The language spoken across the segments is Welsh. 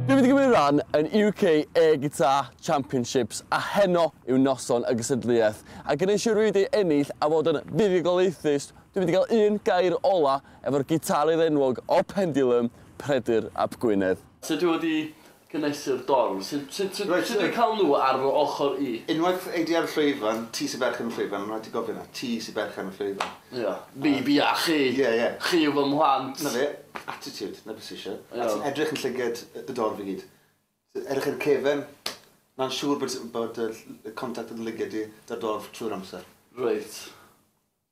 Dwi wedi gymryd rhan yn UK Air Guitar Championships a heno yw noson y gystadleuaeth a gneud siwr fi wedi ennill a fod yn fuddugoliaethus dwi wedi cael un gair ola efo'r gitarydd enwog o Pendulum, Peredur ap Gwynedd. So dwi wedi Cynhesu'r dorf. Sut, sut, sut, Reit, sut dwi'n yy. cael nhw ar fy ochr i? Unwaith ei di ar y llwyfan, ti sy berchen y llwyfan, ma' raid ti gofio 'na, ti sy berchen y llwyfan. Ia. Fi, fi a chi. Ie, ie. Chi yw fy mhlant. 'Na fe. Attitude, 'na be sy isie. A ti'n edrych yn llygad y y dorf i gyd. Edrych i'r cefen, ma'n siŵr bod bod y ll- y contact yn llygad di 'da'r dorf trwy'r amser. Reit.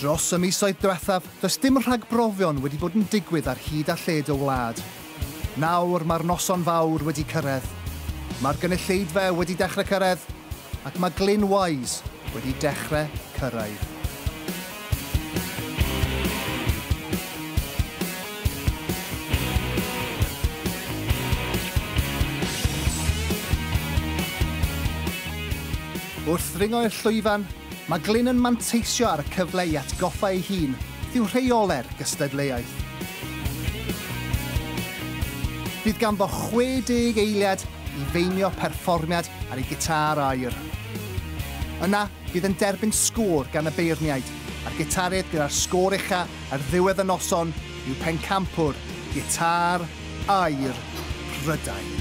Dros y misoedd diwethaf, does dim rhagbrofion wedi bod yn digwydd ar hyd a lled y wlad. Nawr mae'r noson fawr wedi cyrraedd. Mae'r gynulleidfa wedi dechrau cyrraedd ac mae Glyn Wise wedi dechrau cyrraedd. Wrth ddringo i'r llwyfan, mae Glyn yn manteisio ar y cyfle i atgoffa ei hun beth yw rheolau'r gystadleuaeth. Bydd ganddo 60 eiliad i feinio perfformiad ar ei gitâr aer. Yna, Bydd yn derbyn sgôr gan y beirniaid a'r gitarydd gyda'r sgôr ucha ar ddiwedd y noson yw pencampwr gitâr aer Prydain.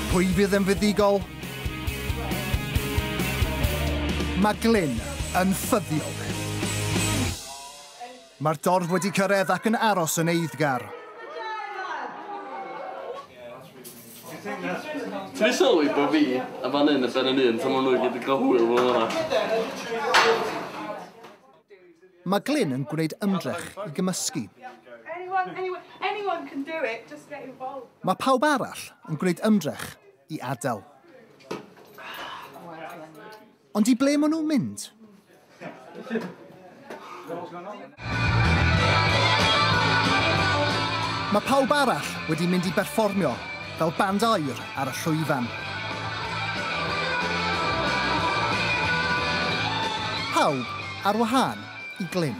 Pwy fydd yn fuddugol? Mae Glyn yn ffyddiog. Mae'r dorf wedi cyrraedd ac yn aros yn eiddgar. Ti'n ei sylwi bod fi a fan hyn yn ben yn un, tan maen nhw i gyd yn cael hwyl fel yna. Mae Glyn yn gwneud ymdrech i gymysgu. Mae pawb arall yn gwneud ymdrech i adael. Ond i ble maen nhw'n mynd? Mae pawb arall wedi mynd i berfformio fel band air ar y llwyfan. Pawb ar wahân i Glyn.